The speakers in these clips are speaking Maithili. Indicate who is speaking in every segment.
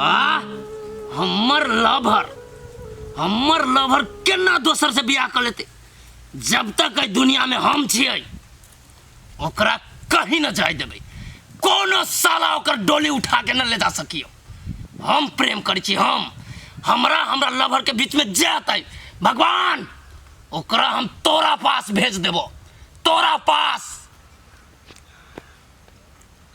Speaker 1: आ हमर लवर हमर लवर केना दोसर से बियाह कर लेते जब तक एहि दुनिया में हम छियै ओकरा कहीं न जाय देबै कोनो साला ओकर डोली उठा के न ले जा सकियो हम प्रेम करै छी हम हमरा हमरा लवर के बीच में जे अतै भगवान ओकरा हम तोरा पास भेज देबो तोरा पास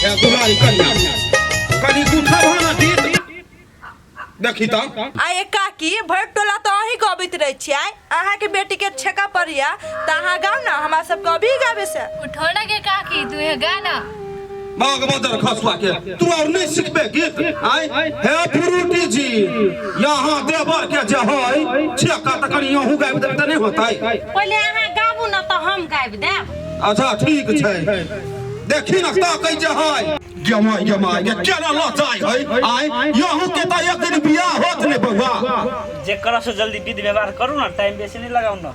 Speaker 1: क्या दुलारी कन्या कनी गुठा भाना दीत देखी त आ ये काकी भर टोला तो अही गबैत रहे छियै अहाँ के बेटी के छेका पड़िया त अहाँ गाउ ना हमरा सब के अभी गाबे से उठौना के काकी तू हे गाना बाग बदर खसुआ के तू और नहीं सीखबे गीत आय हे फ्रूटी जी यहाँ देवर के जे होय छेका त कनी यहू गाबि देब त नहीं होतै पहिले अहाँ गाबू न तऽ हम गाबि देब अच्छा ठीक छै देखी न ता कै जे होय गमाय गमाय के केना लचाय है आय यहू के त एक दिन बियाह होत ने बौआ जेकरा से जल्दी विध व्यवहार करू ना टाइम बेसी नहीं लगाऊ ना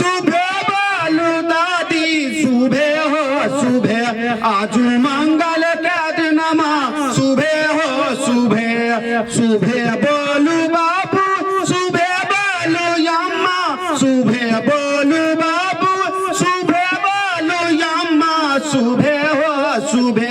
Speaker 1: सुबे बालू दादी सुबे हो सुबे आज मंगल के दिनमा सुबे हो सुबे सुबे बोलू बाबू सुबे बोलू यम्मा सुबे बोलू बाबू सुबे बोलू यम्मा सुबे हो सुबे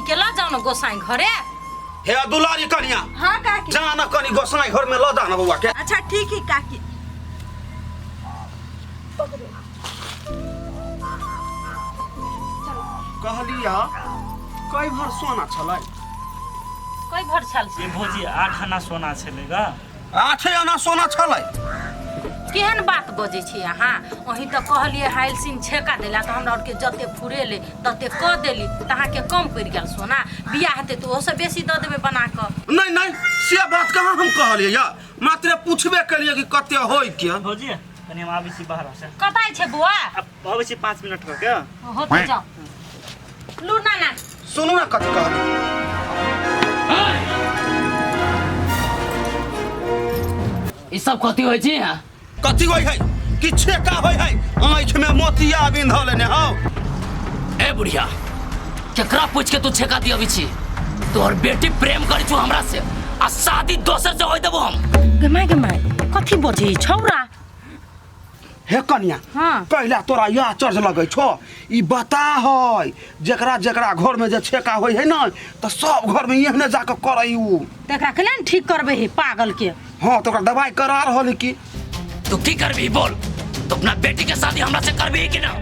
Speaker 1: के ल जाऊ न गोसाई घरे हे दुलारी कनिया हाँ काकी जा न कनी गोसाई घर में लदा न बउआ के अच्छा ठीक है काकी कहलिया कई भर सोना छलै कई भर छल से ए भौजी आठ आना सोना छलै ग आठे आना सोना छलै केहन बात बजै छी अहाँ अही तऽ कहलियै हाइलसिन छेका देला तऽ हमरा आरके जते फुरेले तते कऽ देली तऽ अहाँके कम पड़ि गेल सोना बियाह हेतै तऽ ओहोसँ बेसी दऽ देबै बना कऽ नहि नहि से बात कहाँ हम कहलियै या मात्र पूछबे केलियै कि कते होय के भौजी कनी हम आबै छी बाहर से कतय छै बौआ अबै छी पाँच मिनट कऽ के हो तो जाओ लू ना ना सुनू ना कथी कहत ई सब कथी होइ छै यहाँ कथी होइ है कि छेका होइ है आँखि में मोतिया बिंधऽ लेने हौ ए बुढ़िया केकरा पूछ के तू छेका दी अभी छी तोहर बेटी प्रेम करी छू हमरा से आ शादी दोसर से होई देबो हम गमाय गमाय कथी बजे छौरा हे कन्या हाँ। पहले तोरा यह चर्च लगे छो ई बता है जकरा जकरा घर में जे छेका होय है ना तो सब घर में एहने जाके करे ऊ त एकरा केना ने ठीक करबे हे पागल के हाँ तो ओकरा दवाई करा रहल है कि तू की करबी बोल तू अपना बेटी के शादी हमरा से करबी कि ना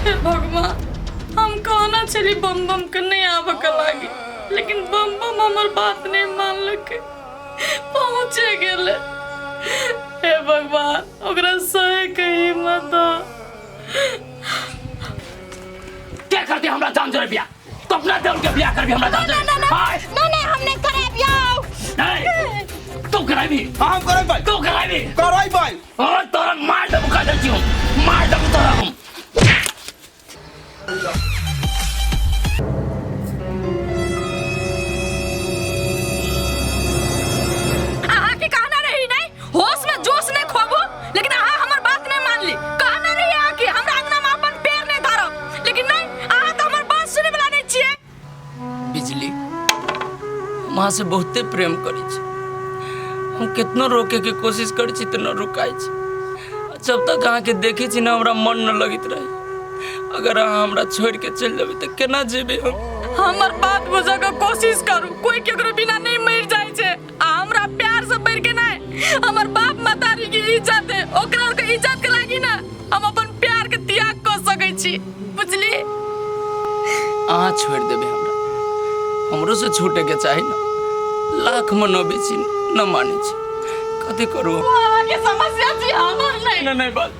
Speaker 1: हे भगवान हम कहना चली बम बम के नहीं आवे के लागी लेकिन बम बम हमर बात नहीं मानलक पहुँचे गेले हे भगवान ओकरा सहे के हिम्मत दो क्या करते हमरा जान जरे बिया तो अपना दे उनके बिया कर भी हमरा जान जरे हाय ना ना हमने करे बियाह नहीं तू कराई भी हम करे भाई तू कराई भी करे भाई और तोरा मार दबका देती हूँ मार दबका हम अहाँ के कहना रही नहीं होश में जोश ने खोबू लेकिन अहाँ हमर बात नहीं मान ली कहना रही अहाँ के हमरा अंगना में अपन पैर नहीं धरब लेकिन नहीं अहाँ तो हमर बात सुने वाला नहीं छिए बिजली हम अहाँ से बहुते प्रेम करै छी हम कितनो रोके के कोशिश करै छी तऽ न रुकाय छी जब तक अहाँके देखै छी ने हमरा मन न लगैत रहे अगर अहाँ हमरा छोड़ के चलि जेबै तऽ केना जेबै हम हमर बात बुझे के कोशिश करू कोई केकरो बिना नहीं मर जाए छे आ हमरा प्यार से बढ़ के नहीं हमर बाप मतारी के इज्जत है ओकरा के इज्जत के लागी ना हम अपन प्यार के त्याग कर सकै छी बुझली अहाँ छोड़ देबे हमरा हमरो से छूटे के चाही ना लाख मनोबे छी न माने छी कथी करू हम? आगे समस्या छी हमर नहीं ना नहीं बात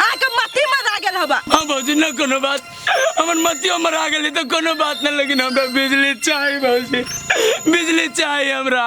Speaker 1: अहाँ के मती मरा गेल हबा हाँ भौजी न कोनो बात हमर मतियो मरा गेली तो कोनो बात न लेकिन हमरा बिजली चाही भौजी बिजली चाही हमरा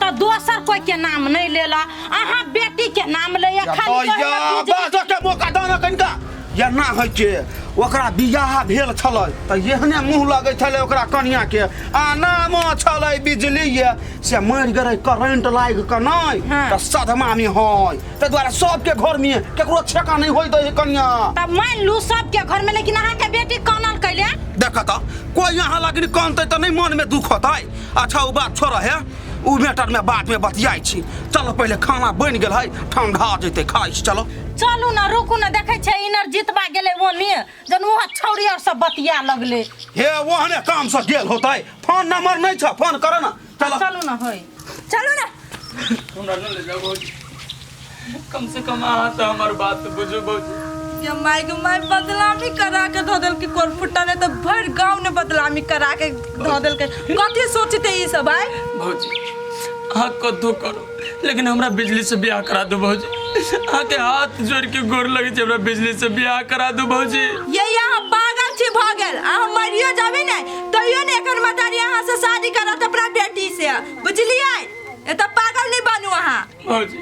Speaker 1: तऽ दोसर कोई के नाम नहीं ले ला अहाँ बेटी के नाम ले या खाली कहै ला कि जे- बाजके मौका दाना कनिका या ना होइ छै ओकरा बियाह भेल छलै तऽ एहने मुँह लगै छलै ओकरा कनियाके आ नामो छलै बिजली ये से मरि गेलै करंट लागि कऽ नहि हँ। तऽ सदमामे हइ ताहि दुआरे सबके घरमे केकरो छेका नहि होइ दै हइ कनिया तब मान लू सबके घर में लेकिन अहाँ के बेटी कानल कैले देख तऽ कोइ यहाँ लगनी कानतै तऽ नहि मोनमे दुख होतै अच्छा ओ बात छोड़ है ओ मैटर में बाद में बतियाई छी चलो पहले खाना बन गल है ठंडा जैते खाई छी चलो चलू ने रुकू ने देखै छै इनर जीतबा गेलै ओने जन वहाँ छौरी आर सब बतिया लगले हे ओहने काम से गेल होतै फोन नंबर नहीं छ फोन कर ना चलो चलू ने होय चलू ने हमरा न ले जाओ भौजी कम से कम अहाँ तो हमार बात बुझो भौजी ये माय गो माय बदलामी करा के धो देल के कोर फुट्टा ने तो भर गांव ने बदलामी करा के धो देल के कथी सोचते ई सब आय भौजी अहाँ कद्दू करो लेकिन हमरा बिजली से ब्याह करा दो भौजी अहाँ के हाथ जोड़ के गोर लगे छै हमरा बिजली से ब्याह करा दो भौजी ये यहाँ पागल छी भ गेल अहाँ मरियो जाबे ने तैयो ने एकर मतारी अहाँ से शादी करत अपना बेटी से बुझलिए एतऽ पागल नहीं बनू अहाँ भौजी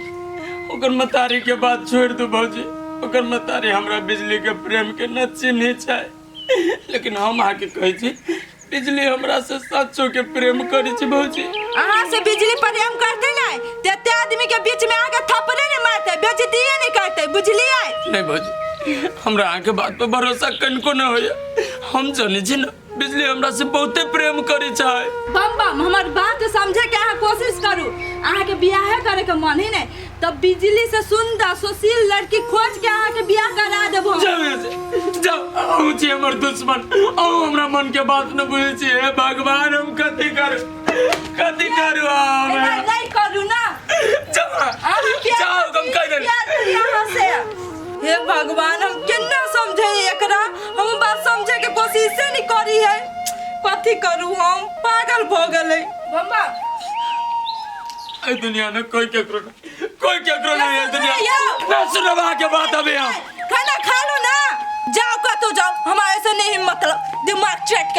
Speaker 1: ओकर मतारी के बात छोड़ दू भौजी ओकर मतारी हमरा बिजली के प्रेम के न चिन्ही छै लेकिन हम अहाँ के कहै छी बिजली हमरा से सच्चो के प्रेम करै छी भौजी अहाँ से बिजली प्रेम करते नहीं ते एते आदमी के बीच में आके थपड़े नहीं मारते बेइज्जती नहीं करते बुझलिए नहीं भौजी हमरा अहाँ के बात पर भरोसा कनिको न होइए हम जानै छी न बिजली हमरा से बहुते प्रेम करी चाहे बम बम हमर बात समझे के अहाँ कोशिश करू अहाँ के बियाह करे के मन ही नहीं तब बिजली से सुंदर सुशील लड़की खोज के अहाँ के बियाह करा देबो हम। जाओ यहाँ से जाओ अहू छी हमर दुश्मन अहू हमरा मन के बात न बुझे छी हे भगवान हम कथी करू कथी करू हम एना नहीं करू ना जाओ अहाँ के जाओ हम कह देली बियाह करी अहाँ से हे भगवान हम केना समझे एकरा हम बात समझे के कोशिश से नहीं करी है कथी करू हम पागल भ गेले मम्मा ए दुनिया में कोई केकरो नहीं कोई केकरो नहीं है दुनिया में। ना सुनो बा के बात अबे हम खाना खा लो ना जाओ का तो जाओ हमारे से नहीं मतलब दिमाग चट के